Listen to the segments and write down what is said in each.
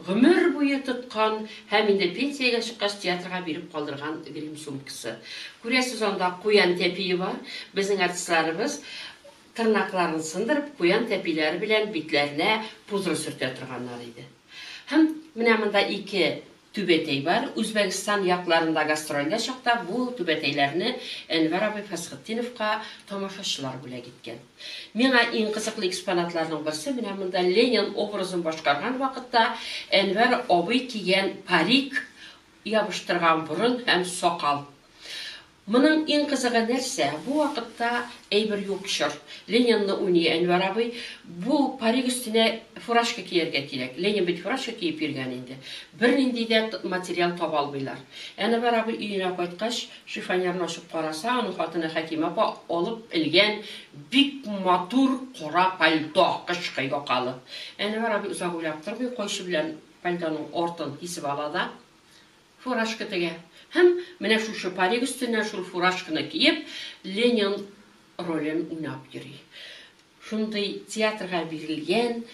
Гомер буе тоткан һәм инде пенсиягә чыккач театрга биреп калдырган грим сумкасы. Күрәсез, анда куян тәпие бар. Безнең артистларыбыз тырнакларын сындырып, куян тәпиләре белән битләренә пудра сөртә торганнар иде. Һәм менә монда ике түбәтәй бар. Үзбәгестан якларында гастрольдә чакта бу түбәтәйләрне Әнвәр абый Фәсхетдиновка тамашачылар бүләк иткән. Миңа иң кызыклы экспонатларның берсе менә монда Ленин образын башкарган вакытта Әнвәр абый кигән парик, ябыштырган борын һәм сакал. Моның иң кызыгы нәрсә, бу вакытта әйбер юк чор. Ленинны уйный Әнвәр абый. Бу парик өстенә фуражка кияргә кирәк. Ленин бит фуражка киеп йөргән инде. Бернинди дә материал таба алмыйлар. Әнвәр абый өенә кайткач, Шифоньерны ачып караса, аның хатыны Хәкимә апа алып элгән бик матур кара пальто, кышкы якалы. Әнвәр абый озак уйлап тормый, кайчы белән пальтоның артын кисеп ала да, фуражка тегә. Һәм, менә шушы парик өстеннән шул фуражканы киеп, Ленин ролен уйнап йөри. Шундый театрга бирелгән,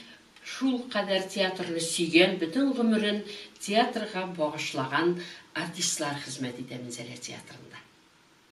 шулкадәр театрны сөйгән, бөтен гомерен театрга багышлаган артистлар хезмәт итә Минзәлә театрында.